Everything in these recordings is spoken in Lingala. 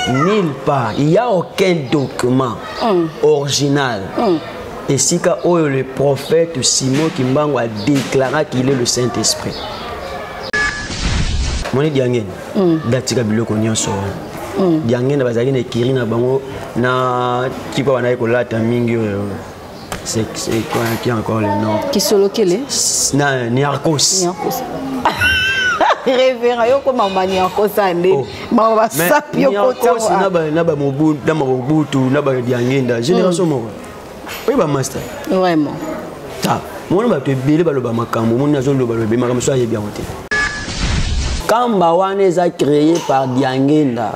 Nulle part, il n'y a aucun document mm. original. Mm. Et si oyo le prophète Simon Kimbangu a déclaré qu'il est le Saint-Esprit. Moni diangene mm. datika biloko nyonso wana mm. diangene bazalaki na ekiri na bango na kipa banaki kolata mingi oyo C'est quoi qui a encore le nom Qui solo quel est Niarcos. Niarcos. Révérend, yo koma ma Niarcos ande. Oh. Ma wa sap yo kota. Niarcos na ba na ba mobu na ba mobutu na ba diangenda génération mm. moko. Oui ba master. Vraiment. Ta. Mona ba to ebele baloba makambo, mona zo loba loba makambo so ayebi yango te. Kamba wana eza créé par Diangenda.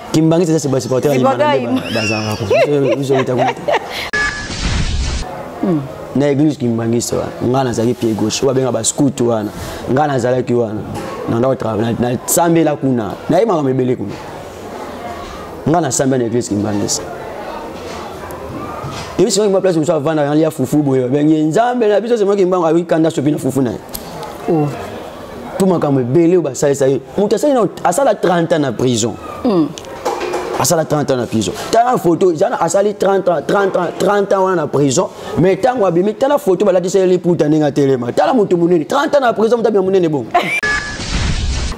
Kimbanguiste c'est basi porteur les malades bazanga ko. Biso bita ko. Na église Kimbanguiste wana. Nga nazalaki pied gauche, ba benga ba scout wana. Nga nazalaki wana. Na ndako travail na sambela kuna. Na ye makambo ebele kuna. Nga na sambela na église Kimbanguiste. Et puis c'est moi place où ça va na ya fufu boye. Ben nzambe na biso c'est moi qui mbango ayi kanda sopi na fufu na ye. Oh. mpo makambo ebele oyo basalisa ye moto asali nao asala 30 ans na prison mm. asala 30 ans na prison tala foto ezana asali 30 ans 30 ans 30 ans wana na prison mais ntango abimi tala foto balatisa ye liputa ndenge atelema tala moto monene 30 ans na prison moto abima monene bongo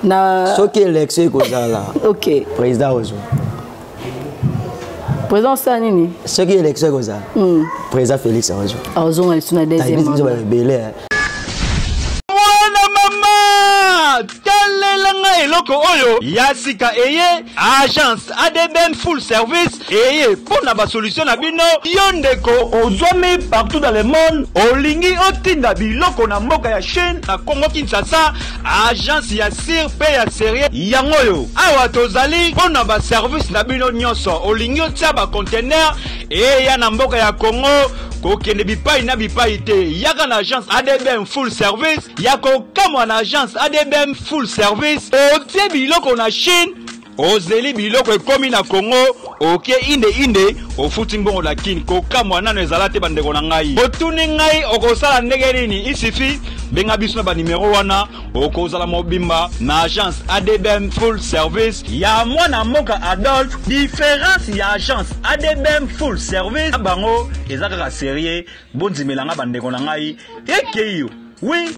na soki élection ekozala ok président ozwa président osala nini soki élection ekozala hmm. président félix akozwa akozonga lisu na deuxième ebele eloko oyo ya sika eye agence adbn full service eye mpo na basolution na bino yo ndeko ozwami partout dans le monde olingi otinda biloko na mboka ya chine na congo kinshasa agence ya sir mpe ya serie yango oyo awa tozali mpo na baservice na bino nyonso olingi otya bacontener eya na mboka ya congo kokende bipai na bipai te yaka na agence adbm full service ya kokamwa na agence adbm full service otie biloko na chine Ozeli biloko ekomi na Congo oke inde inde ofuti mbongo na Kin kokamwa nano ezala te bandeko na ngai botuni ngai okosala ndenge nini isifi benga biso na banimero wana okozala mobimba na agence adbm full service ya mwana mboka adolphe diference ya agence adbm full service na bango eza kaka serie bondimela ngai bandeko na ngai ekeyo wi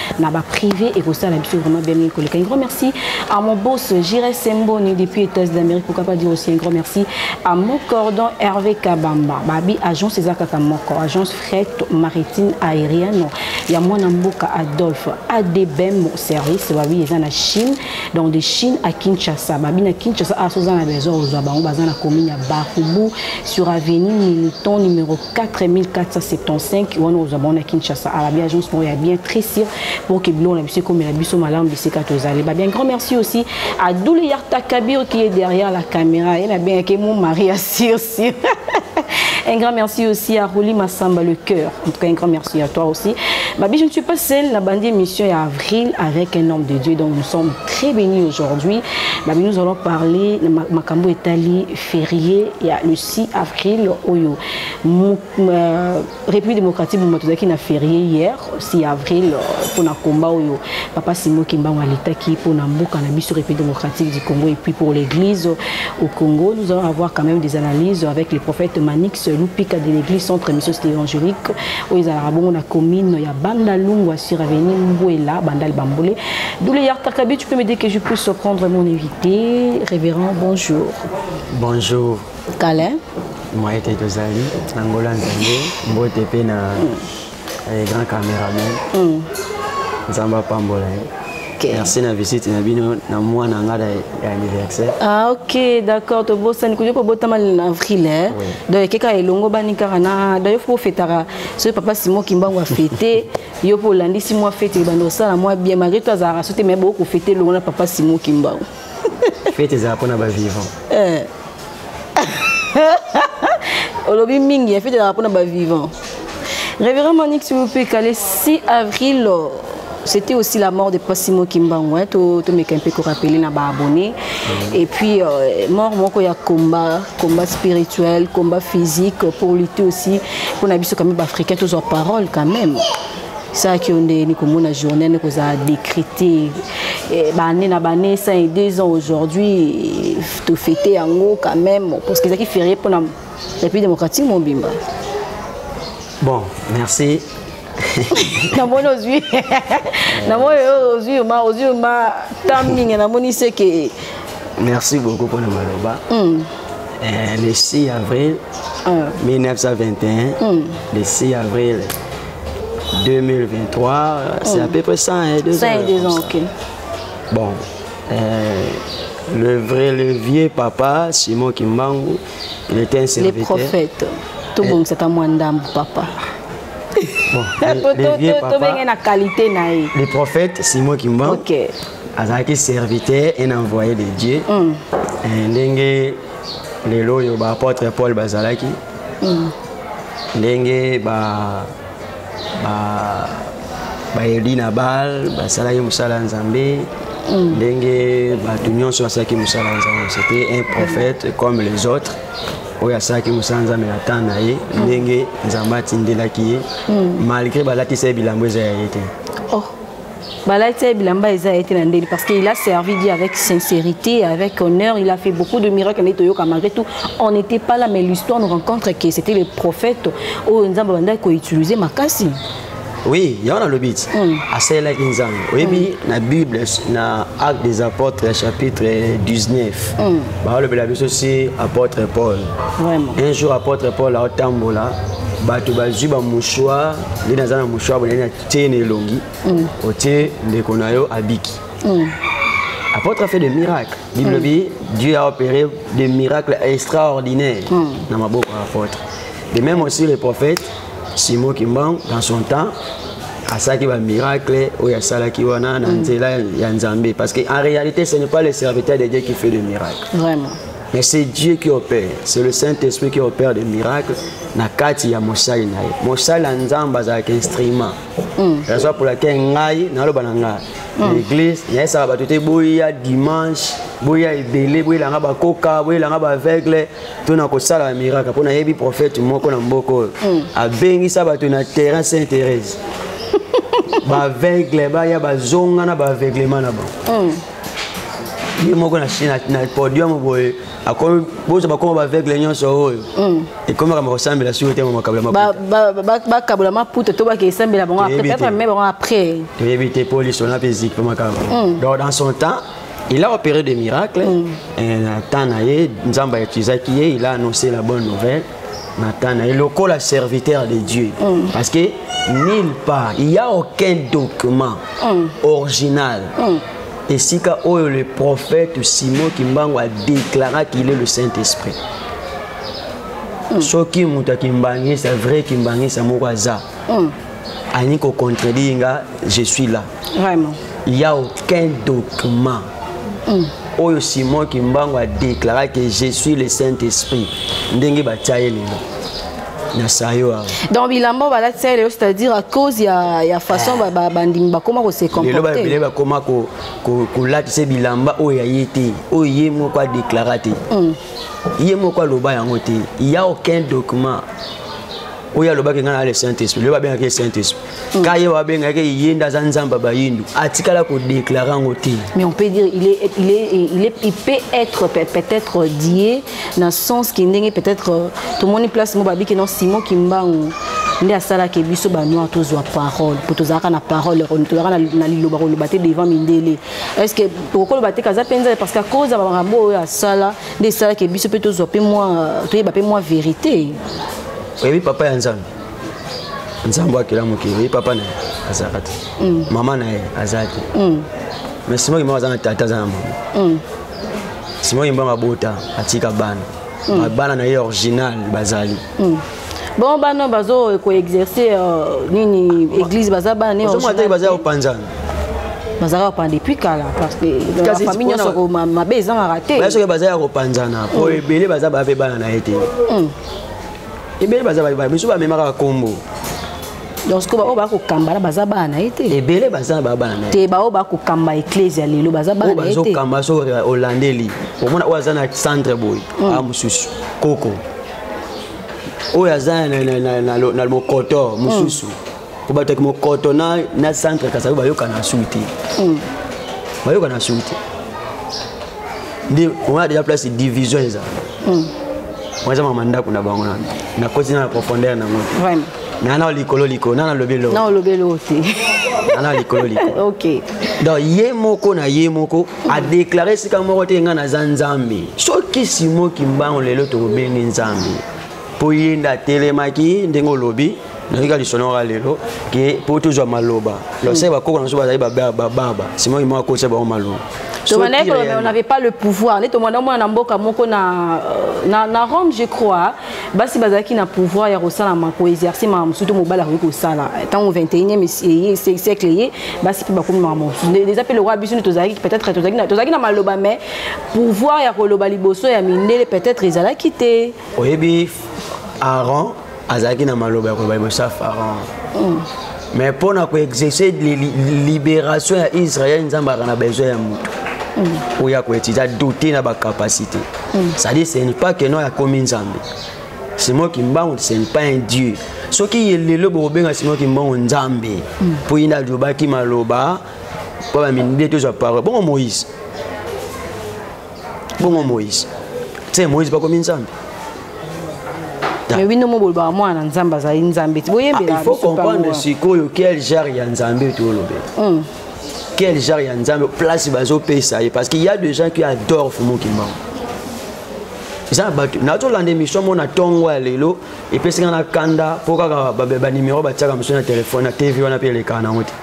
na ba privé ekosala biso vraiment bien mingi koleka un grand merci à mon boss Jire Semboni depuis États d'Amérique pourquoi pas dire aussi un grand merci à mon cordon Hervé Kabamba babi agence eza kaka moko agence fret maritime aérienne ya mwana mboka Adolphe ADBM service babi eza na Chine donc de Chine à Kinshasa babi na Kinshasa asoza na besoin ozwa bango baza na commune ya Bakubu sur avenue Militon numéro 4475 wana ozwa bango na kinshasa ala bien agence moko ya bien très sûr pour que biloko na biso ekomela biso malamu bisika tozali ba bien grand merci aussi à doule yarta kabir qui est derrière la caméra ye na bengaki mon mari ya sur sur Un grand merci aussi à Rouli Massamba Le Cœur. En tout cas, un grand merci à toi aussi. Babi, je ne suis pas seule. La bande émission est avril avec un homme de Dieu. Donc, nous sommes très bénis aujourd'hui. Babi, nous allons parler de Makambo Etali, férié, il y a le 6 avril oyo euh, république démocratique moma tozalaki na férié hier 6 avril mpona euh, combat oyo papa simo kimbango aletaki mpona mboka na biso république démocratique du congo et puis pour l'église au congo nous allons avoir quand même des analyses avec le prophète manix lupika de l'église centre mission cité évangélique oyo ezalaka bongo na commune ya banda lungwa sur avenue mbuela bandal bambole douleyar takabi tu peux me dire que je puisse prendre mon invité révérend bonjour Bonjour. Kale. Moi ete tozali na Ngola Nzambe mbote mpe na eh, grand cameraman. Mm. Nzambe apambola ye. Okay. Merci na visite na bino na mois na nga ya anniversaire. Ah OK, d'accord, to bosani kuyo ko botama na avril eh. Oui. Donc keka elongo bani kaka na donc faut fetara ce papa Simon Kimbangu a fêté yo po landisi moi fête bando sala moi bien malgré toi za rasote mais beaucoup fêter longo na papa Simon Kimbangu. fete ezala mpo na bavivant eh. olobi mingi ya fete ezala mpo na bavivant révérend manique s'il vous plaît kale 6 avril c'était aussi la mort de Passimo Kimbangu hein, to to meka un peu ko rappeler na ba abonnés mm. et puis euh, mort moko ya combat combat spirituel combat physique pour lutter aussi pour na biso comme ba africains tous en parole quand même saki oyo ndeyeni komona journée ne kozala décrite eh, bane na bane 100 et 2 ans aujourd'hui tofete yango quand même parce que ezalaki ferie mpona république démocratique mobimba bon merci namoni ozwi namoni ozwi ma ozwi ma temps mingi namoni seke merci beaucoup mpona maloba hmm. eh, le 6 avril 1921 hmm. hmm. le 6 avril 2023, c'est à peu près 100 et 2 ans. 100 et 2 ans, ok. Bon, euh, le vrai, le vieux papa, Simon Kimbangu, il était un serviteur. Les prophètes. Tout bon, c'est à moi, papa. Bon, le, vieux papa, qualité, les prophètes, Simon Kimbangu, okay. azalaki serviteur un envoyé de Dieu. Mm. Et, eh, ndenge lelo oyo baapôtre paul bazalaki mm. ndenge ba ba bayeli na bal basalaki mosala ya nzambe mm. ndenge bato nyonso basalaki mosala ya nzambe c'était un prophète comme les autres oyo asalaki mosala nzambe na temps na ye mm. ndenge nzambe atindelaki ye mm. malgré balatisa ye bilambo eza ya ye te oh. Balati ya bilamba eza été na ndeli parce qu'il a servi Dieu avec sincérité, avec honneur, il a fait beaucoup de miracles mais toyoka malgré tout, on n'était pas là mais l'histoire nous rencontre que c'était le prophète oyo Nzambe bandaki ko utiliser makasi. Oui, il y en a le but. Mm. À celle là Nzambe. Oui, mais mm. la Bible na Actes des apôtres chapitre 19. Mm. Bah le Bible aussi apôtre Paul. Vraiment. Un jour apôtre Paul a otambola bato bazwi bamouchoir nde naza na mouchoir boye na tie na elongi mm. otie ndeko na yo abiki mm. apôtre a fait des miracles bible mm. bi dieu a opéré des miracles extraordinaires mm. na maboko ya apôtre de même aussi le prophète simon kimbangu dans son temps asalaki bamiracle oyo asalaki wana na mm. nzela ya nzambe parce que en réalité ce n'est pas le serviteur de dieu qui fait le miracle Vraiment. Mais c'est Dieu qui opère. C'est le Saint-Esprit qui opère des miracles. na kati ya mosali na ye mosali ya nzambe azalaka instrument hmm. raison pour laquelle ngai naloba na ngai hmm. l'église nayesaka bato te boya dimanche boya ebele boyelanga bakoka boyelanga baaveugle to na kosala ya miracle mpo nayebi prophète moko na mboka oyo hmm. abengisa bato na terrain saint thérèse baaveugle baya bazonga na baaveuglement na bango ye moko na podium boye bozo bakoma baaveugle nyonso oyo mm. ekomi makambo kosambela siko te makabulabakabula maputo to bake esambela bango peut-être me bango après toyebi te mpo lisona mpe eziki mpe makambo mm. donc dans son temps il a opéré des miracles mm. na temps na ye nzambe ayetizaki ye il a annoncé la bonne nouvelle Natana, et lokola serviteur de Dieu, mm. parce que nulle part, il n'y a aucun document mm. original. Mm. Et si oyo le prophète Simon Kimbangu a déclaré qu'il est le Saint-Esprit. Mm. soki moto ya kimbangisa vrai kimbangisa moko aza mm. alingi kocontredire nga je suis là Vraiment. Il n'y a aucun document. Mm. oyo simon kimbangu adéclara que je suis le saint esprit ndenge batya ye lelo na sayo awa donc bilamba balatisa ye lelo c'est-à-dire à cause ya, ya façon ah. bandimi bakoma kose comportelelo babele bakoma kolatisa ko, ko bilamba oyo ya ye te oyo ye moko adéclara te mm. ye moko aloba yango te ya aucun document oyo alobaki ngai na le saint esprit lelo babengaki ye saint esprit Mm. ka ye wabengaki ye nde aza nzambe ya bayindo atikala kodeklare yango te mais on peut dire il, est, il, est, il, est, il peut être peut-être die na sens ki ndenge peut-être euh, tomoni place mo babiki non simon kimbangu nde asalaki biso banoir tozwa parole mpo tozalaka na parole tozalaka na liloba koloba te devant mindele est ce que okoloba te kaza mpenza parce que akoza bamakambo oyo asala nde esalaki biso mpe tozwa mpe mwa toyeba mpe mwa verité oyebi papa ya nzambe nzambe akela mokili oye papa na ye azalaka te mm. mama na ye aza te mm. mais simo kimbangu aza na tata aza na mama mm. simo kimbangu abota atika bana bana na ye original bazali bon bana bazo koexerce euh, nini église baza bana ne original baza kopanzana bazalaka kopana depuis kala parce que famille nyonso mabe ezangaka te soki baza ya kopanzana po ebele baza bape bana na ye te ebele baza baye biso bamemaka bakombo donc sikoyo baoyo bakokamba na baza bana na ye te ebele baza babana na ye te baoyo bakokamba eklezia lelo baza bana na ye te bazokamba so olandeli omona oyo aza na centre boye mm. a ah, mosusu koko oyo aza na mokoto mosusu mm. kobataki mokoto na, na centre kasayo bayokana sui te mm. bayokana sui te nde wana deja place division eza mm. wana eza mama ndako na bango nano nakoti na na profondeur nango te nana likolo likolo nana lobi elo nana lobi elo te nana likolo likolo ok donc ye moko na ye moko mm. adeklare esika moko te ngai naza nzambe soki simo kimbango lelo tokobenge nzambe mpo ye nde atelemaki ndenge olobi nayoki kaka lisolo yango lelo ke mpo tozwa maloba losai bakoko na biso bazali bababa sima oyo moko akotisa bango maloba tobandaki koloba mais on n'avait pas le pouvoir nde tomanda omona na mboka moko na, euh, na, na rome je crois basi bazalaki na pouvoir ya kosala koexerce makambo mosusu to mobali akoki kosala ntango 21e siècle ye basi mpe bakomi makambo mosusu eza mpe lokola biso nde tozalaki peut-être tozalaki na maloba mais pouvoir ya koloba liboso ya mindele peut-être ezalaki te oyebi aran azalaki na maloba ya koloba liboso ya pharaon mm. mais mpo na koexerce libération ya israel nzambe aka na besoin ya moto mm. oyo akoetide adoute na bacapacité mm. cestadire ce n'est pas que non akomi nzambe simon kimbangu ce n'est pas un dieu soki ye lelo bokobenga simon kimbangu nzambe mpo ye nde alobaki maloba mpo baminde tozwa parole bongo moïse bongo moïse te moïse bakomi nzambe mais bino mobolobaka mwana na nzambe azali nzambe ti boyembela ah, faut comprendre sikoyo quel genre ya nzambe tolobela hmm. quel genre ya nzambe place bazopesa ye parce qu'il y a des gens qui adorent fumu kimbangu eza na bato nazolanda émission mo na ntongo ya lelo epesi nga na kanda mpo kaka banimero batiaka mosusu na telefone na tv wana mpe elekaka nango te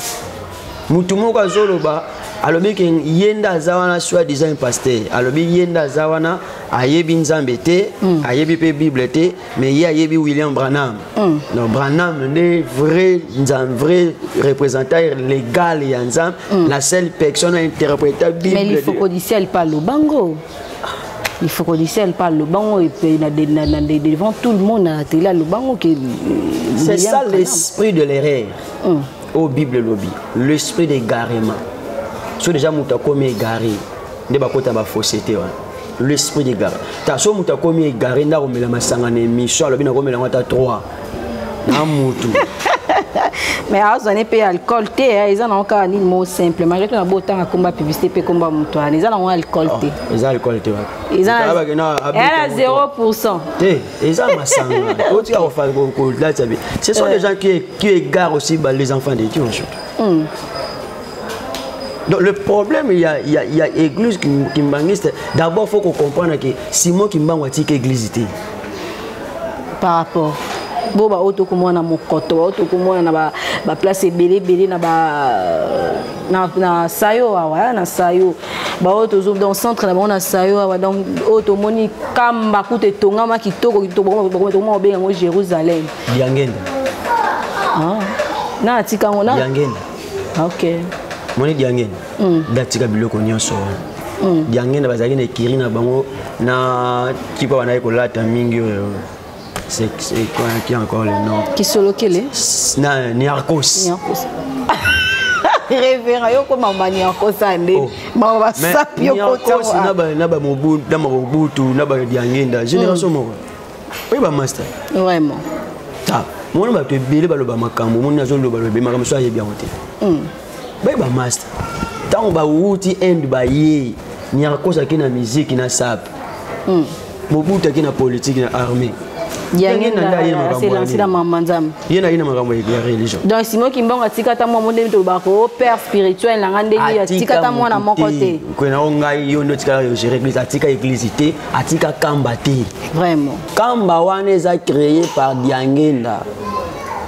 motu moko azoloba alobi ke ye nde aza wana soit disant pasteur alobi ye nde aza wana ayebi nzambe te mm. ayebi mpe bible te mais ye ayebi william branham mm. donc branham nde vrai nzambe vrai représentant légal ya nzambe mm. la seule personne a interpréta bible mais lifokodicia lipa lobango lifokodicia lipa aloba ngo devant tout le monde na tele aloba ngo ke c'est ça l'esprit de l'erreur mm. oyo bible elobi l'esprit d'égarement so deja moto akomi egare nde bakota bafosse te wana l'esprit d'égarement ta so moto akomi egare nde akomela masanga na émission alobi nakomela yango ata 3 na motu mais azwa ne mpe alcool te eh, eza nango kaka nini mo simple malgré to na bo otanga komba publicité mpe komba moto wana eza nango alcool te oh, eza alcool te wana eza na 0 pourcent te eza masanga otika kolatisa bi ce sont des gens qui, qui égarent aussi bah, les enfants de dieu ensuite mm. Donc le problème, il y a, il y a, il y a église kimbanguiste. D'abord, il faut qu'on comprenne que Simon Kimbangu a dit église. Par rapport bo baoyo tokomona na mokoto baoyo tokomona na baplace ebele ebele na sayo awa na sayo baoyo tozo donc centre na bango na sayo awa donc oyo tomoni kamba kuta etongama kitoko kitoko tokoma kobenga yango jérusalem diangenda ah, na atika yango na diangenda ah, ok moni diangenda mm. datika biloko nyonso wana mm. diangenda bazalaki na ekiri na bango na tipa banaye kolata mingi oyo C'est quoi qui encore le nom Qui solo kele Na Niarcos. Niarcos. Révérend yoko mama Niarcos ande. Oh. Mama ba sap yoko Niarcos na ba na ba mobu na ba mobutu na ba diangenda génération mm. moko. Oui ba master. Vraiment. Ta. Mwana ba te bele ba loba makambo mwana azo loba loba makambo so ayebi yango te. Mm. baye bamaster ntango bawuti inde baye nyarkos ake na miziki na sape hmm. mobutu ake na politike na armée ye na ye na makambo ya religion donc simo kimbongo atika ata mwa mondemi tolobaka ko oh, père spirituel na nga ndenge atika ata mwana moko te kwena o ngai yo nde otikala yo gere église atika église te atika kamba te vraiment kamba wana eza créé par diangenda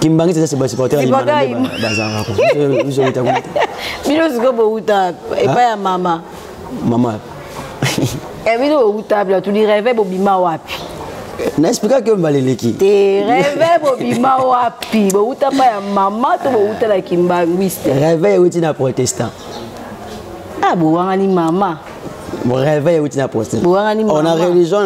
kimbangi eza ba supporter ya bazanga ko biso bita ko bino siko bo uta epa ya mama mama e bino bo uta bla tu di rêve bo bima wapi na explika ke mbaleleki te reve bobima wapi bowuta pa ya mama to bowuta na kimbanguiste reve ewuti na protestant ah bowangani mama réveil euti na procès on a religion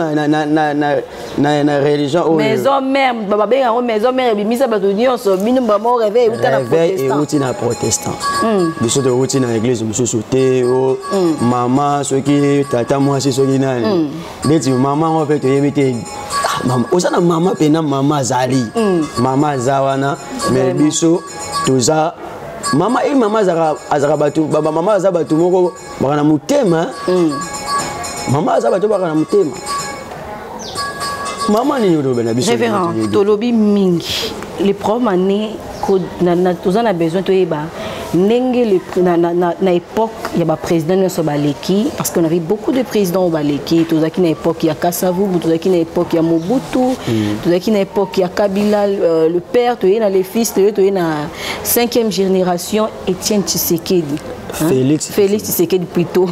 na religion oyo maison mère babenga yango maison mère ebimisa bato nyonso bino bamo réveil euta na réveil euti na protestant hmm. biso tokouti na église mosusu te o oh, hmm. mama soki tata mwasi soki nani hmm. ndeti mama yango mpe toyebi te ah, oza na mama mpe na mama azali mama aza wana mais biso toza mama e mama azalaka bato bamama aza bato moko baka na motema mm. mama aza bato baka na motema mama nini oloba na biso révérend tolobi mingi les problème année toza na besoin toyeba ndenge le, na, na, na, na époque ya baprésident nyonso baleki parce qu'on avait beaucoup de présidents oyo baleki tozalaki na époque ya kasavubu tozalaki na époque ya mobutu mm. tozalaki na époque ya kabila euh, le père toye na le fils toye toye na cinquième génération étienne tshisekedi Felix. Hein? Felix Tshisekedi plutôt.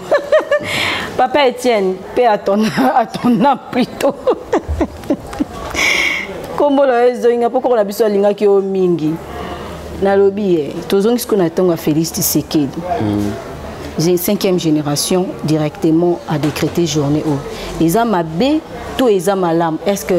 Papa Etienne, paix à ton, à ton âme plutôt. Kombo na ezonga poko na biso alingaki yo mingi. Nalobi eh, tozongi siko na tonga Felix Tshisekedi. Mm. J'ai cinquième génération directement à décréter journée. Oh. Ils ont ma B to eza malamu est ce que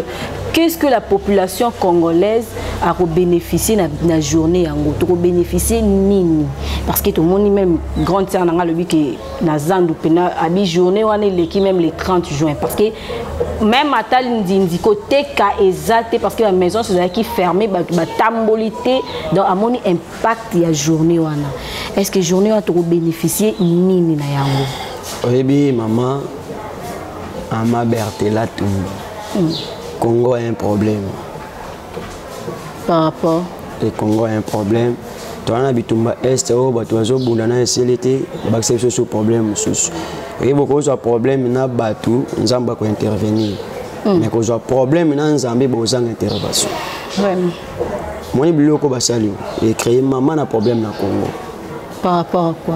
qu'est ce que la population congolaise akobénéficie na, na journée yango tokobénéficie nini parce que tomoni même grande sœur na ngai alobi ke na zandu mpena abi journée wana eleki même le 30 juin parce que même ata ndindi koteka eza te parce que ba maison ezalaki fermé bato batamboli te donc amoni impact ya journée wana est ce que journée wana tokobénéficie nini na yango oyebi mama Ama Bertela Tumbi. Mm. Congo a un problème. Par rapport Le Congo a un problème. toza na bitumba est oyo bato bazobunda na esili te bakisa biso so problème mosusu oyebi okozwa problème na bato nzambe akointervenir mm. mais kozwa problème na nzambe bozanga intervention moni biloko basali yo ecreye mama na problème na congo par rapport à quoi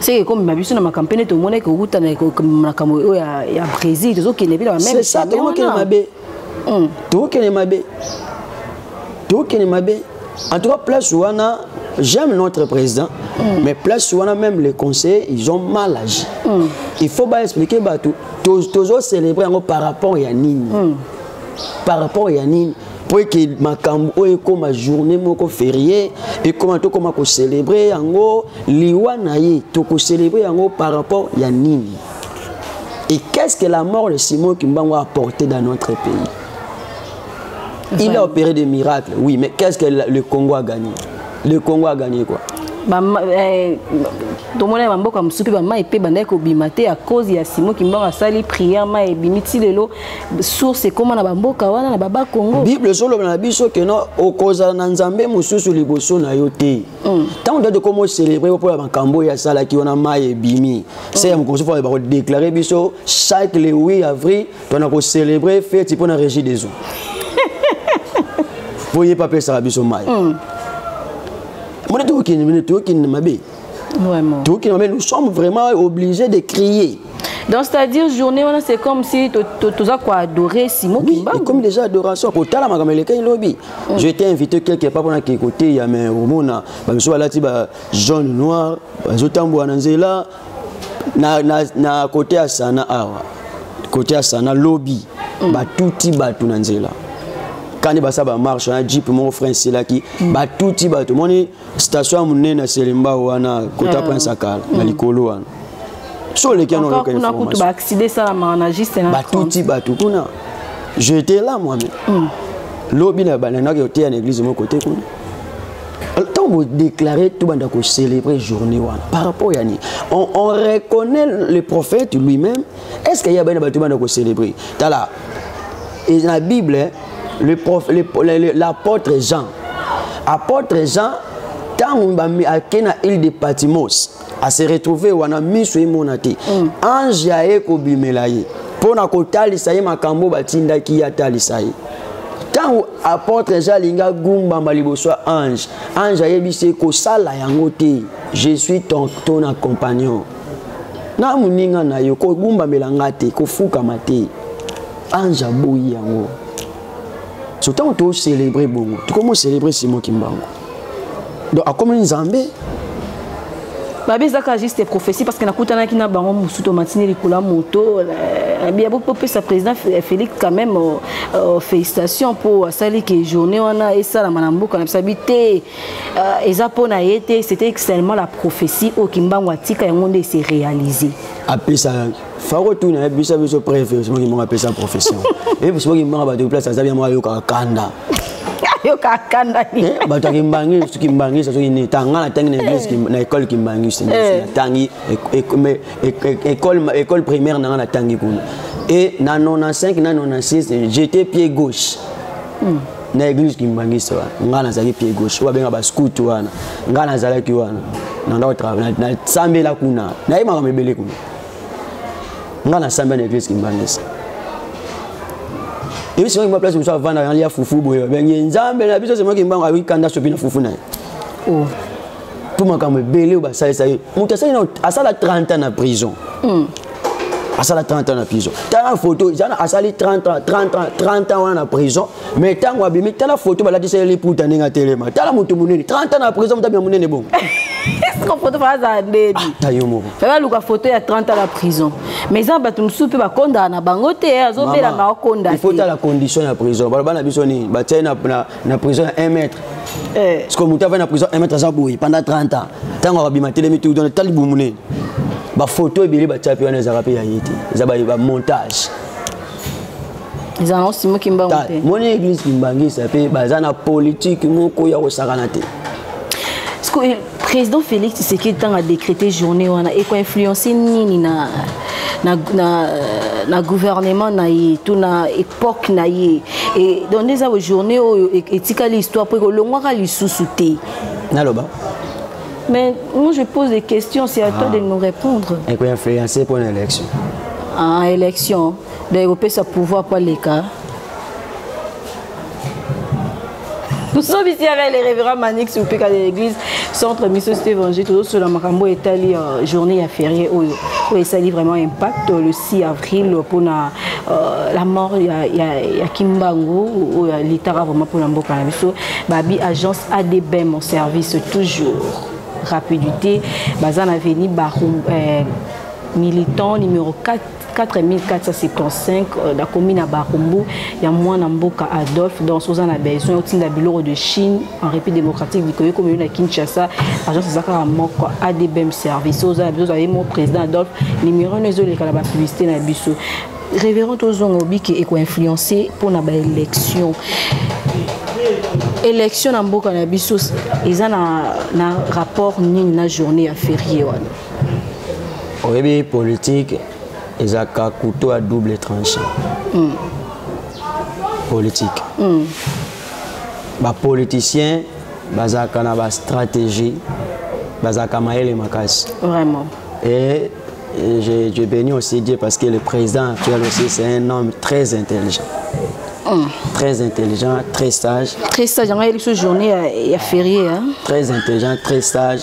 seke ekomema biso na makambo mpe nde tomonaki kowuta na makambo oyo ya brésil tozokende mpe na bamesa tokokende mabe hmm. tokokende mabe tokokende mabe en tout cas place wana j'aime notre président mm. mais place wana même les conseillers ils ont mal agi mm. il faut baexplike bato tozocélébre yango par rapport ya nini mm. par rapport ya nini mpo eke makambo oyo ekóma journée moko ferie ekóma tokóma kocelebre yango liwa na ye tokocelebre yango par rapport ya nini et qu'est ce que la mort de simon kimbangu a apporté dans notre pays il a opéré des miracles oui mais qu'est ce que le congo a gagné le congo a gagné quoi eh, tomonaki bamboka mosusu mpe bamai mpe bandaki kobima te ya cause ya simon kimbangu asali prière mai ebimi ti lelo source ekoma na bamboka wana na baba congo bible ezoloba na biso keno okozala na nzambe mosusu liboso na yo te mm. ntango mm. date ekoma ocelebre mpo ya makambo oyo asalaki wana mai ebimi mm. se ya mokonzi fo bakodeklare biso chaque le 8 avril tona kocelebre feti mpo na régie des eaux mpo ye mpe apesaka biso mai mm. mona tokokende mene tokokende mabe Vraiment. Tout qui mais nous sommes vraiment obligés de crier. Donc c'est-à-dire journée wana c'est comme si toza ko adorer Simon oui, Kimbangu. Oui, comme déjà adoration ko tala makambo elekaki lobi. Mm. Je t'ai invité quelque part pona ki côté ya mais omona ba miso balati ba jaune noir bazo tambola na nzela na na na côté ya sana awa. Côté ya sana lobby. Mm. Ba tuti ba tu na nzela. Kani basa ba marche na jeep mon frère selaki. Mm. Ba tuti ba tu moni station ya monene ya selembao wana kota ah. prince akala na likolo wana so oleki yango oyoka informationbatuti bato kuna je étais là moi-même mm. lobi na bananaki oteya na église moko te kuna ntango bodeklare tobanda kocélébrer journée wana par rapport ya nini on, on reconnaît le prophète lui-même est ce que ye abai na bato bana kocélébre tala na bible l'apôtre jean apôtre jean ntango ake na ile de patimos ase retrouve wana miso emona te mm. ange aye kobimela ye mpo na kotalisa ye makambo batindaki ye atalisa ye ntango apôtre jean alingi agumbama liboso ya ange ange ayebisi ye kosala yango te je suis ton, ton accompagnon na moninga na yo kogumbamela nga te kofukama te ange aboyi yango so ntango tocelebre bongo tokomi ocelebre simo kimbango donc akomi nzambe babi ezaka juste prophétie parce que nakutanaki na bango mosusu tomatini likolo ya moto nabi ya bopesa président félix quand même euh, euh, félicitation mpo asali ke journée wana esalama na mboka na bisabi te Euh, eza mpo na ye te c'était seulement la prophétie oyo kimbangu atika yango nde ese réalise apesa fako tu na ye biso biso preuve soki kimbangu apesa prophétie epe soki kimbangu bato place aza bia moko ayokaka kanda ayoka kanda eh, bato ya kimbangi soki kimbangi soki nini tanga na tangi na église eh. na école kimbangi na eh. tangi école primaire na nga na tangi kuna et na 95 na 96 j'étais pied gauche hmm. na église kimbanguiste wana ngai nazalaki pied gauche oyo babenga bascout wana ngai nazalaki wana nasambela kuna naye makambo ebele kuna ngai nasambela na église kimbanguiste ebi sima kimba place mosusu avandaka nalia fufu boye babengi nzambe na biso sima kimbangu ayoki kanda sopi na fufu na ye oh. mpo makambo ebele oyo basalisa ye moto asali nao asala 30 ans na prison mm. asala 30 ans na prison tala foto ezana asali 30 ans 30 ans 30 ans wana na prison mais ntango abimi tala foto balatisa ye liputa ndenge atelema tala moto monene 30 ans na prison moto abima monene bongo siko foto mpe azala ndedi ata ah, yo moko baluka foto ya 30 ans na prison mais eza bato mosusu mpe bakondaka na bango te eh, azobela maokonda te il faut tala condition ya prison baloba na biso nini batyai na na prison ya 1 mètre eh. sikoyo moto avai na prison 1 mètre aza boye pendant 30 ans ntango akabima telemi tu dona tali bumu nini bafoto ebele batya mpe wana ezalaka mpe ya ye te eza bamontage ezala na osimo kimbangu te moni église kimbangisa mpe baza na politike moko ya kosakana te Président Félix Tshisekedi tant a décrété journée wana et influencer nini na na na na gouvernement na ye to na époque na ye et donc des journée oyo etikali histoire po ekolongwaka lisusu te naloba mais moi je pose des questions c'est à ah. toi de nous répondre et quoi influencer pour l'élection ah élection donc opesa pouvoir pour les cas tosobisi yaka le révérend manix opeka de l'église centre miso cité évangile tozosola makambo oyo etali euh, journée ya ferie oyo oyo esali vraiment impact le 6 avril mpona euh, la mort ya, ya, ya kimbangu oyo alitaka vraiment mpona mboka na biso babi agence adbm mon service toujours rapidité baza na veni barum euh, militant numéro 4 4475 na komi na barumbu ya mwana mboka adolphe donc oza na besoin otinda biloko de chine en république démocratique bikoki komeyo na kinshasa agence eza kaka moko adbm service oza na biso ozali mo président adolphe numero no ezoleka na bapublicité na biso révérend tozonga obike ekoinfluence mpo na baélection élection na mboka na biso eza na, na rapport nini na journée ya ferie wana oyebi politique ezalaka couteau ya double tranche mm. politique mm. bapoliticien bazalaka na bastratégie bazalaka mayele makasi vraiment et je, je bénis aussi Dieu parce que le président actuel aussi c'est un homme très intelligent mm. très intelligent très sage très sage yango ayebisi journée ya, ya ferie hein? très intelligent très sage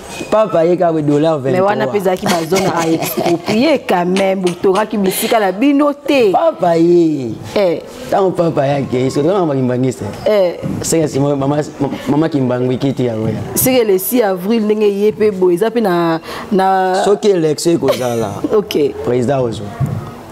papa ye kaka dollar 23 mais wana mpe ezalaki bazone a exproprie quand même botongaki bisika na bino te papa ye eh. ntango papa yake esonaa bakimbangisa eh. seke sima mama kimbangu ekiti yango ya seke le 6 avril ndenge ye mpe boye eza mpe na soki élection ekozala ok président ozwa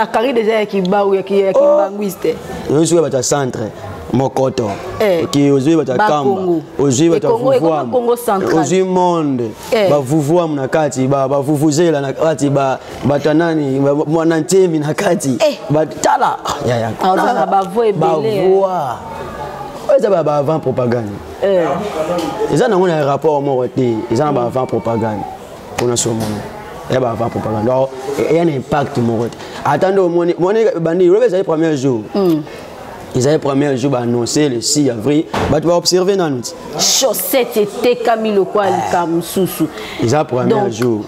akari deja ya kibau ya kimbanguiste oh. oyo soki bato ya centre mokoto eh. oki ozwi bato ya kamba ozwi bato ya vuvuam ozwi monde eh. bavuvuam na kati bavuvuzela na kati bato ya nani mwana ntemi na kati eh. tala bavua oyo eza ba avant propagande eza nango na rapport moko te eza na ba avant propagande mpona somono ya bava propagande or eya na impact moko te ata nde omoni moni ebandi lobi ezali premier jour hmm. ezali premier jour baannonce le 6 avril bato baobserve nanu ti chaussette etekami lokola eh. likaa mosusu eza premier jour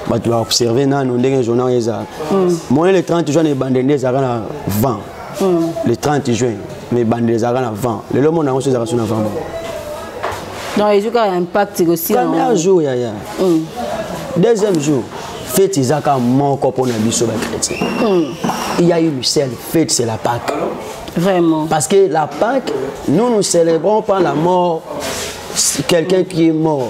bato baobserve nanu ndenge journal ezala hmm. moni le 30 juin na ebande nde ezalaka na vent mm. le 30 juin mais ebandela ezalaka na vent lelo mona yango so ezalaka so na vent moko donc ezwi kaka ya impact ekosiapremier jour yaya mm. deuxième jour fete eza kaka moko mpo na biso bachrétien mm. il y a une seule fete c'est la pâque vraiment parce que la pâque nous nous célébrons pas la mort quelqu'un qui est mort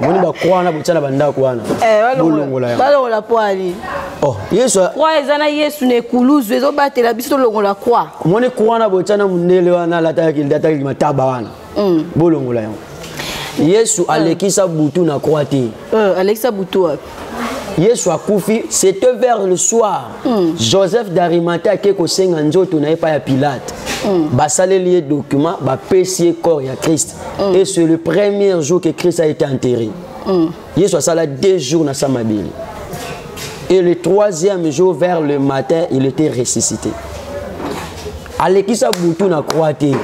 moni bakro wana botya na bandako wana eh, bolongola yangobalongola poali oh, yesu kwa eza na yesu na ekuluzu ezobatela biso tolongola kwa omoni kwa wana botya na mondele wana alataki mataba wana mm. bolongola yango yesu mm. alekisa butu na kwa te mm, alekisa butu wapi yesu akufi c'était vers le soir mm. joseph darimata ake kosenga nzoto na ye epai ya pilate mm. basaleli ye document bapesi ye corps ya christ mm. et c'est le premier jour que christ a été enterré mm. yesu asala deux jours na sa mabele et le troisième jour vers le matin il était ressuscité alekisa butu na croix te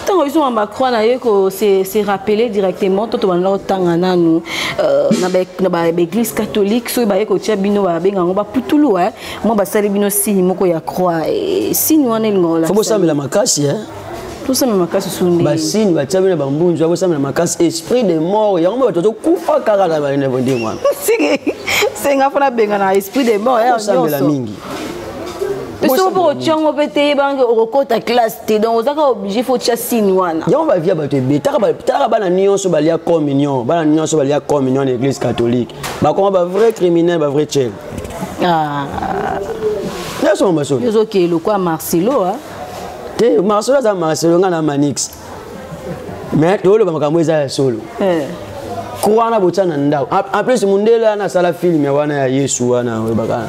ntango biso mamba croix na ye kose rappeler directement to tobanda kotanga nanu euh, na baeglise catholique soki baye kotia bino babenga yango baputulu eh. mwa basali bino signe moko ya croix eh, signe wana elingaolafo bosambela makasi eh. tosambela makasi sunde basini batia bino bambunzu akosambela makasi esprit de mort yango mpe bato azokufa kaka na bandenge wana senga mpo nabenga na esprit de mort nyonso soki mpo otya yango mpe te yeba yango okokota classe te donc oza kaka oblige fo otya sine wana yango bavi ya bato ebe talaka bana nyonso balia communion bana nyonso balia communion na église catholique bakoma bavrai criminel bavrai chel ah. nyonso mamasolo ozokee lokwa marcelo te marcelo aza marcelo ngai na manix mais tooloba makambo eza ya solo eh. kwana botya na ndako en plus mondele wana asala filme wana ya yesu wana oyebaka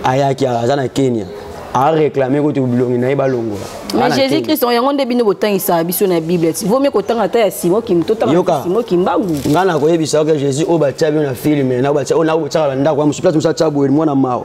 ayaki aza na kenya areklame kutu bilongi na ye balongola mais jésus christ yango nde bino botangisaka biso na bible ti vomi kotanga ata ya simo kim totanga simo kimbangu ngai nakoyebisa oke jésus oyo batya bino na filme oyo nakobotyaka na ndako ya mosusu place mosusu atya boye mwana mawa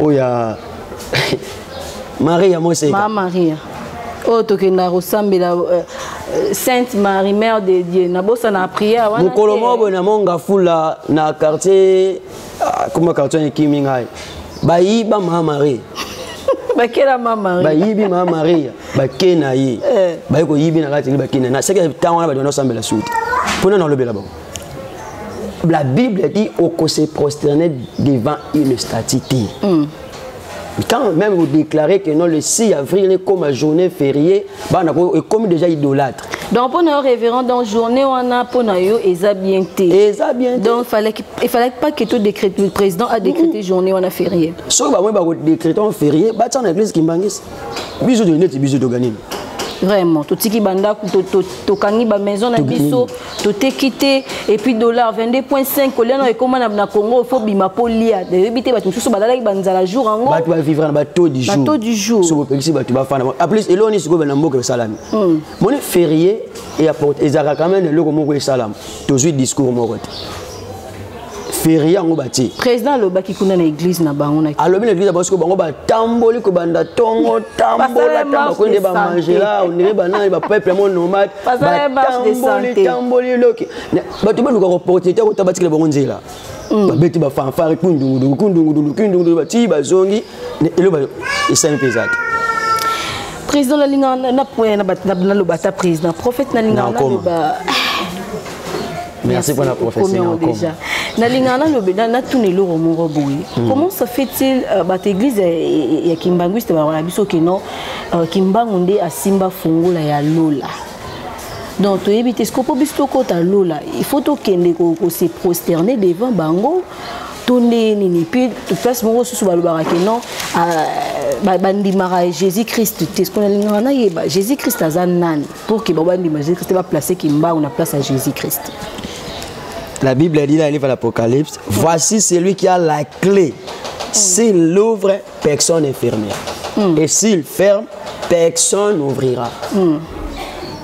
oya maria moseka ma maria oyo oh, tokendaka kosambela euh, sainte marie mère de dieu nabosana na prière wana mokolo moko boye na monga fula na quartier ah, kuma quartier ekimi ngai bayiba ma marie bakela ma marie bayibi ma marie bake na ye eh. baye koyibi na kati bake na ye naseke ntango wana bato wana osambela suki mpo nani olobela bango la bible dit oko se prosterner devant une statue te mm. quand même vous déclarez que non le 6 avril ekoma journée fériée bana ekomi déjà idolâtre donc mpo na yo révérend donc journée wana mpo na yo eza bien te eza bien donc il fallait pas que tout décret le président a décrété mm. journée wana férié soki bango badécréte en férié batia na église kimbangisi biso toye neti biso toganini vraiment totiki bandako tokangi bamaison na biso toteki te epuis dollar 22.5 kolia nao ekoma na congo fo bima mpo lia nayebi te bato mosusu balalaki banzala jour yango bato bavivre na bato du jour du jour soki opekisi bato bafana aplus eloko nini sikoyo na mboka esalami hmm. moni ferie ezalaka quand même eloko moko esalama tozwi discours moko te ferie yango batie président alobaki kuna na église na bango na alobi na église na bango sikoyo bango batamboli kobanda ntongo tambola tambako nde bamangela ondire banani bapeuple yango nomade batamboli tamboli loki bato baluka opportunité akota batikela bango nzela babeti bafanfare kundungudungu kundungudulu kundungudulu batii bazongi eloba esali mpe eza te président nalinga naloba ata président prophète nalinga naloba merci mpona professeurdejà nalinga natuna eloko moko boye hmm. comment ça fait-il euh, bato église ya kimbanguiste bakola biso keno euh, kimbangu nde asimba fungola ya lola donc toyebi te sikopo biso tokota lola il faut tokende kose prosterner devant bango to ndenge nini puis place moko susu balobaka ke non euh, bandimaka jésus christ te ce nalingaka nayeba jésus christ aza nani pour ke babandima jésus christ baplace kimbangu na place ya jésus christ la bible dit dans le livre de l'apocalypse mm. voici celui qui a la clé mm. s'il l'ouvre personne n'est fermé mm. et s'il ferme personne n'ouvrira mm.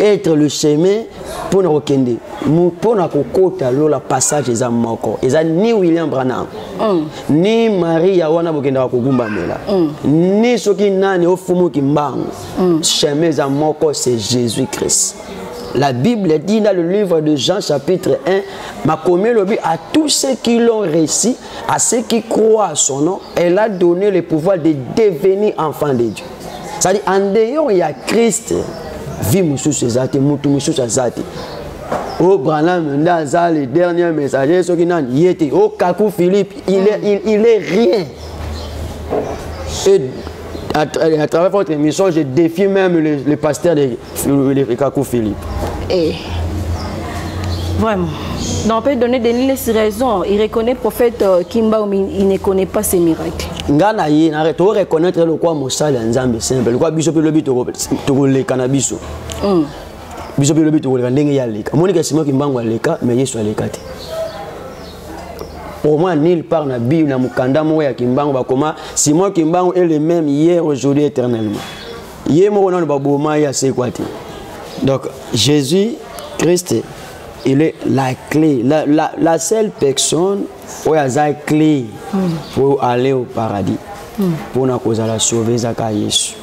être le chemin mpo na kokende mpo na kokota lola passage eza moko eza ni william branham mm. ni maria wana bokendaka kogumbamela mm. ni soki nani ofumuki mbangu mm. chemin eza moko c'est jésus christ La Bible dit dans le livre de Jean chapitre 1, Makomé Lobi, à tous ceux qui l'ont réussi, à ceux qui croient à son nom, elle a donné le pouvoir de devenir enfant de Dieu. cetadi en dehors ya christ vie mosusu eza te motu mosusu aza te o oh, branham nde aza le dernier messager soki nani ye te o oh, kaku philippe il est, il, il est rien et à, à travers votre émission je défie même le, le pasteur de Kaku Philippe. Eh. Vraiment. Donc on peut donner des lignes sur raison. Il reconnaît le prophète euh, Kimba, mais il ne connaît pas ses miracles. nga na ye na to reconnaître lokwa mosali ya nzambe simple lokwa biso mpe lobi tokoleka na biso mm. biso mpe lobi tokoleka ndenge ye aleka monika sima kimbangu aleka mais yesu aleka te pour moi nulle part na bible na mokanda moko ya kimbangu bakoma simon kimbangu est le même hier aujourd'hui éternellement ye moko nano baboma ye asekwa te donc jésus christ il est la clé la, la, la seule personne oyo aza clé mm. pour aller au paradis mpona mm. kozala sauve ezaka yesu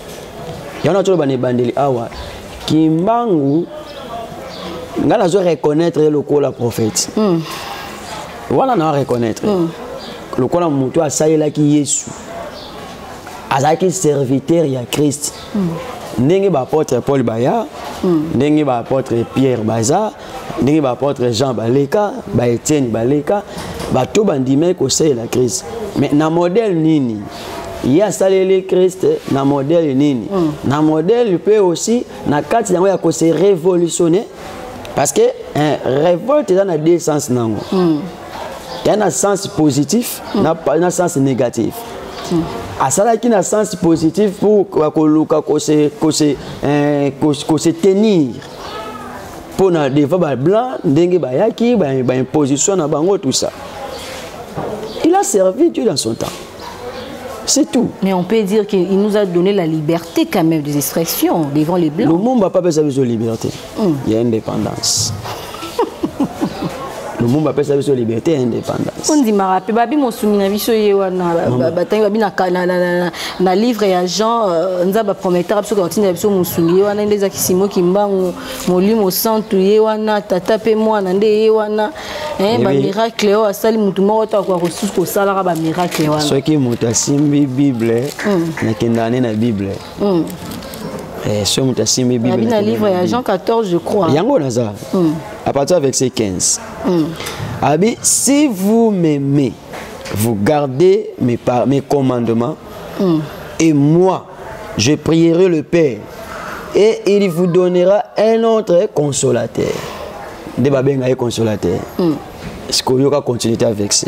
yango na toloba na ebandeli awa kimbangu ngai nazo reconnaître ye lokola prophète mm. wana na reconnaître mm. lokola motu asalelaki yesu azalaki serviteur ya christ mm. ndenge baapotre paul baya mm. ndenge baapotre pierre baza ndenge baapotre jean baleka baetienne baleka bato bandimaki kosalela christ mais na modèle nini ye asaleli krist na modele nini mm. na modele mpe aussi na kati yango ya kose révolutionne parce que eh, révolte eza na deux sens nango mm. ya na sens positif mm. na, na sens négatif mm. asalaki na sens positif pour koluka kose, kose, eh, kose, kose tenir mpo na devant bablanc ndenge bayaki baimposition ba na bango tout ça il a servi dieu dans son temps C'est tout. Mais on peut dire qu'il nous a donné la liberté quand même des expressions devant les Blancs. Le monde n'a pas besoin de liberté. mm. ya indépendance lumumba apesa biso liberté ya indépendance ondimaka mpe babi mosumi na biso ye wana batangi babi na livre ya jean euh, nzambe aprometaka biso kotinda biso mosumi ye wana nde eza kisimo kimbangu molimo santu ye wana tata mpe mwana nde ye wana eh, eh bamiracle oyo asali motu moko to akoka kosusu kosalaka bamiracle wana soki moto asimbi bible hmm. nakendaka ne na bible mm. eh, soki moto asimbi bibina livre ya jean 14 je crois yango naza mm. à partir ya verset 15 mm. abi si vous m'aimez vous gardez mes, par, mes commandements mm. et moi je prierai le père et il vous donnera un autre consolateur nde babenga ye consolateur mm. sikoyoka continuité avec ça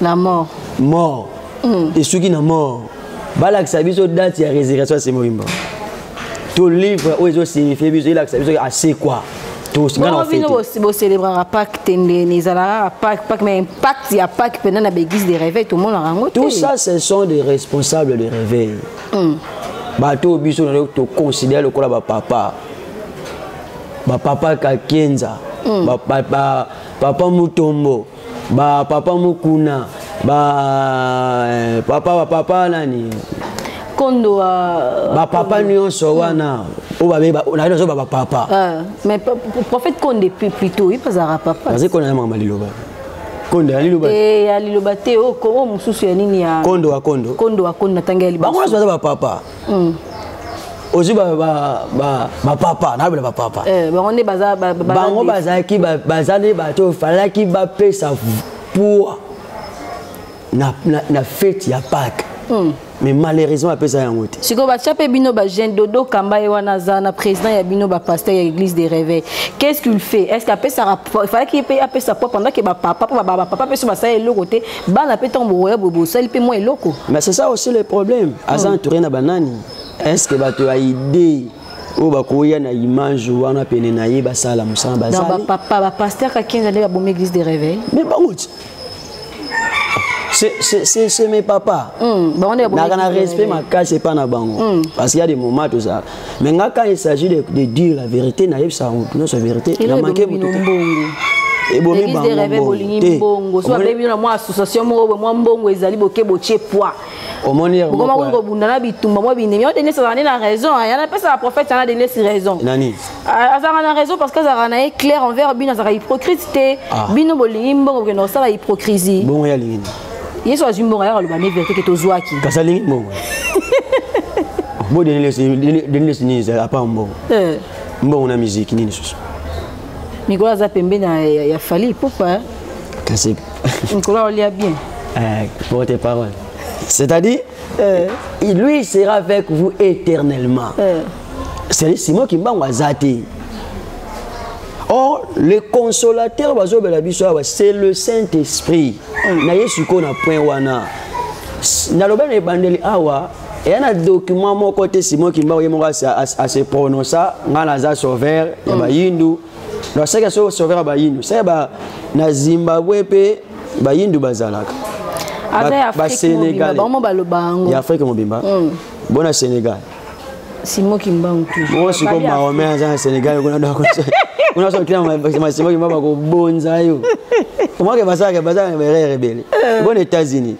la mort mort mm. esuki na mort balakisa biso date ya résurrection ya semolimba to livre oyo ezosignifie biso elakisa biso asekwa boselebraka pake te ndeni ezalaka pake pake mais impact ya pake mpena na baeglise de réveil tomonaka yango te tout ça ce sont des responsables de réveil mm. bato oyo biso na toconsidere lokola bapapa bapapa kakenza mm. papa mutombo ba papa mokuna ba eh, papa ba papa nani kondo uh, ba papa nyonso hmm. wana oyo babe nayebi nazoba ba papa uh, mais prophète konde plutôt ye bazalaka papa nazali kona na makambo liloba kondo ya liloba te ya liloba te o mosusu ya nini ya kondo wa kondo kondo wa kondo na tanga ya liboso bango nyonso baza ba papa mm. ozwi bapapa nabela bapapa eh, bango bazalaki baza nde bato oyo falaki bapesa poa na fete ya pake hmm. mais malheureusement apesa yango te sikoyo batya mpe bino bajeune dodo kamba ye wana aza na président ya bino bapasteur ya église de réveil qu'est ce qu'il fait est ce que apesaka falaki mpe apesa po pendant ke bapapa po bapapa mpe so basala eloko te bana mpe ntango bokoya boye bosali mpe mwa eloko mais c'est ça aussi le problème aza hmm. entouré na banani est ce que bato ya idée oyo bakoya na image wana pene na ye basala mosala bazalipapa bapaster kakenza nde babomi église de réveil mais bango ti c'est mes papa hmm, naka na respect makasi epai na bango hmm. parce qu'il y a des moments tozala mais nga quand il s'agit de, de dire la vérité nayebisaka motu nyonso vérité na manke motu ebomi bangoteomwa association moko mwa mbongo ezali boke botie poi okoma koni kobunda na bitumba mwa binemi yo denise azalani na raison yana apesaka prophète yana denise raison azalaka na raison parce que azalaka na ye claire envers bino azalaka hypocrite te ah. bino bolingi mbongo bokenda kosala hypocrisie yesu azwi mbongo ayaka loba ne verité ke tozwaki kasali mbongo bo denilesi nini ezali apa mbongo eh. mbongo na miziki nini susu mikolo aza pembeni ya fali ipupa kasi mikolo aolia bien eh, porte parole c'est-à-dire euh. lui sera avec vous éternellement euh. simon kimbangu aza te or le consolateur bazobela biso awa c'est le saint esprit mm. na ye sikoyo na point wana naloba na ebandeli awa eya na document moko te simon kimbangu ye moko ase prononça ngai naza sauveur ya mm. bayindu donc seke so sauveur ya bayindu seke na zimbabwe mpe bayindu bazalaka basenegal ya afrique mobimba mm. bona senegal Simon Kimbangu toujours. Moi je suis comme Mahomet aza na Sénégal kuna donc kuna so kila ma Simon Kimbangu ba ko bonza yo. Comment que basa que basa erreur ebele. Euh. Bon États-Unis.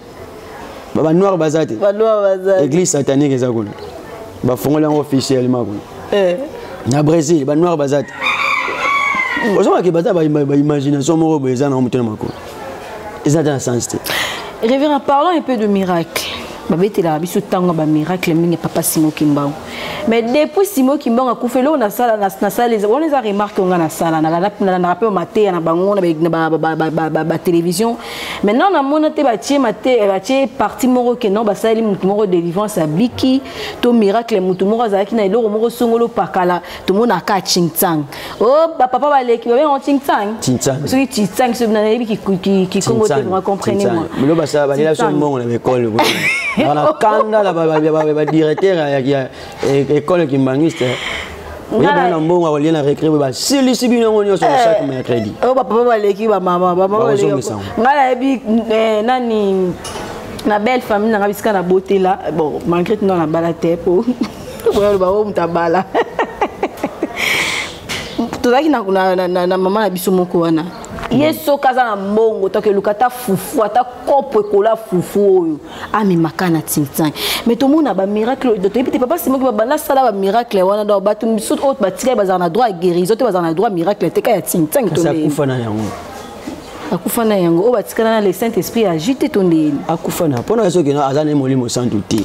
Ba ba noir baza te. Ba noir baza. Église satanique eza kuna. Ba fongoli yango officiellement kuna. Eh. Na Brésil ba noir baza te. Ozomaki baza ba imagination moko boye eza na moto na makolo. eza ata na sens te révérend parlons un peu de miracle babetelaka biso ntango ya bamiracle mingi papa simo kimbangu mais depuis simo kimbangu akufa eloko nasala wana eza remarke onga nasala nalandaka mpe mateya na bango na batelevizio maintenant namona te batie batie parti moko ke non basaleli motu moko délivrance abiki to miracle motu moko azalaki na eloko moko songolo pakala tomonaka chintsang Oh, ba papa ba leki ba bengo tsingtsang. Tsingtsang. Soki tsingtsang soki na yebi ki ki ki kongo te vraiment comprenez moi. Milo ba sa ba lela so mbongo na école ko. Bana kanda la ba ba ba directeur ya ya école kimbangiste. oye bana mbongo akolie na recré boye basilisi bino yango nyonso na chaque mercredi oyo bapapa baleki bamama bamamaozongisa ngai nayebi eh, nani na belle famille nanga bisika na botela bon malgré tuna na bala te po boya loba oyo moto abala tozalaki na, na, na, na, na mama na biso moko wana ye soki aza na mbongo toke eluka ata fufu ata kopo ekola fufu oyo amemaka na tintin mai tomona bamiracle oyo toyebi te papa simoki babanda asala bamiracle wana donc bato mosusu oyo batikali bazala na droit ya guérison te bazala na droit miracle te ka ya tintin akufa na yango akufa na yango oyo batikala na le saint esprit agite to ndeni akufa na mpo na ye soki aza na ye molimo santu te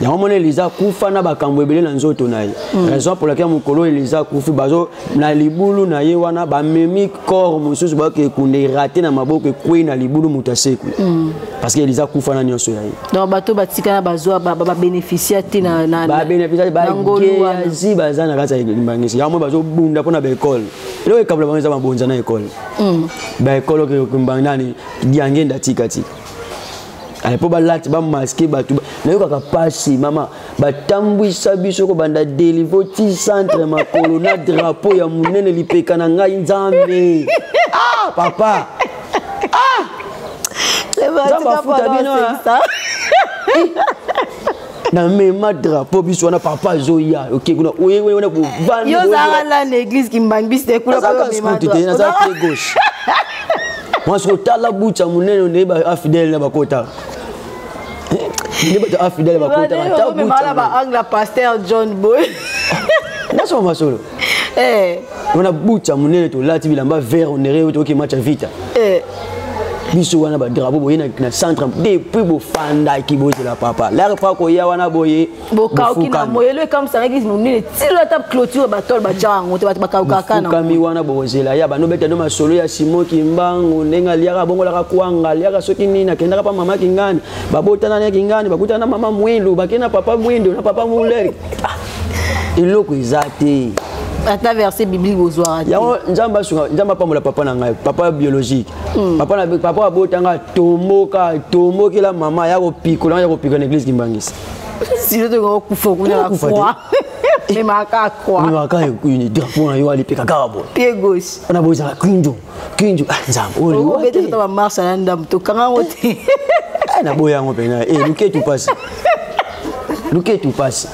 yango mona eliza akufa na bakambo ebele na nzoto na ye mm. raison pour laquelle mokolo eliza akufi bazo na libulu na ye wana bamemi corps mosusu bayoka ekunda erate na maboko ekwei na libulu moto asekwi mm. parce que eliza akufa na nyonso ya ye donc bato batika na bazwa babénéficia te babénéficia bageazi baza na kati ya limbangisi yango moi bazobunda mpo na baekole eloko ekabula bango eza mabonza na ekole mm. baekole okokimbangi nani diangenda tikatika ale mpo balati bamaske bato nayokaka mpasi mama batambwisa biso kobanda delivo ti centre makolo na drapo ya monene lipeka na ngai nzambe ah, papa ah! nzambe afuta bino na mema drapeau biso wana papa azoya oke kuna oye wana bovandi yo ozalaka na na église kimbangbiste ekula nazalaka sikutu te nazalaka pied gauche mwasi kotala bucha monene ondeyeba afidele na bakotaka nde bato afidele bakotaka ta bucha ba angle pasteur john boy nasoma masolo eh. wana bucha monene tolati bilamba vert onere oyo toyoki match ya vita eh. biso wana badrapo boye na centre depuis bofandaki bozela papa lare pa koya wana boye bokauki na moyelo ekambisanaki monene tilo ata clôture batole batya yango te bato bakaukaka nafukami wana bokozela ya banobeta no masolo ya simo kimbangu ndenge aliaka abongolaka kwanga aliaka soki nini akendaka pa mama kingani babotana na kingani bakutana na mama mwilu bakei na papa mwindo na papa muleri eloko eza te ata verset biblique bozwaka te yango nzambe asunga nzambe apambola papa na ngai papa biologique hmm. papa na papa abota ngai atomboka atombokela mama ya kopikola ngai ya kopikola na église kimbangisa sino tokoki kokufa kuna na froid memaka kwa memaka ekuni drapeau na yo alipeka kaka boye pied gauche wana boye ezala kinjo kinjo ah, nzambe oyo oh, obete kuta bamarche na ndambo tokanga yango te eh, naboya yango mpena eh, luketu mpasi luketu mpasi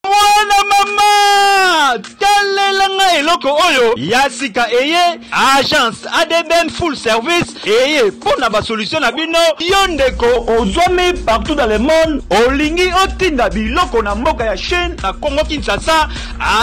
mwana mama talela nga eloko oyo ya sika eye agence adbm full service eye mpo na basolution na bino yo ndeko ozwami partout dans le monde olingi otinda biloko na mboka ya chine na congo kinshasa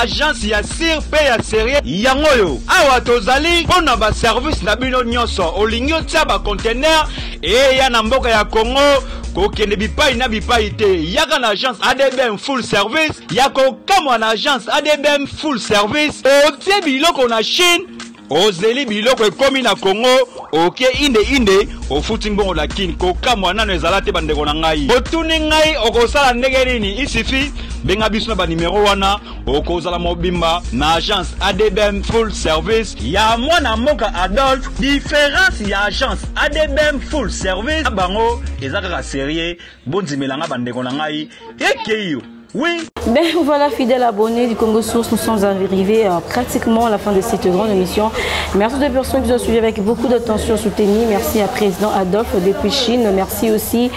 agence ya sir mpe ya serie yango oyo awa tozali mpo na baservice na bino nyonso olingi otya bacontener eya na mboka ya congo kokende bipai na bipai te yaka na agence adbm full service ya kokamwa na agence adbm full service otie biloko na chine ozeli biloko ekomi na kongo oke inde inde ofuti mbongo na kini kokamwa nano ezala te bandeko na ngai otuni ngai okosala ndenge nini isifi benga biso na banimero wana bokozala mobimba na agence adbm full service ya mwana mboka adolphe diference ya agence adbm full service na bango eza kaka serie bondimela nga bandeko na ngai ekei yo Oui. Ben voilà, fidèle abonné du Congo Source, nous sommes arrivés euh, pratiquement à la fin de cette grande émission. Merci aux personnes qui nous ont suivis avec beaucoup d'attention soutenue. Merci à président Adolphe depuis Chine. Merci aussi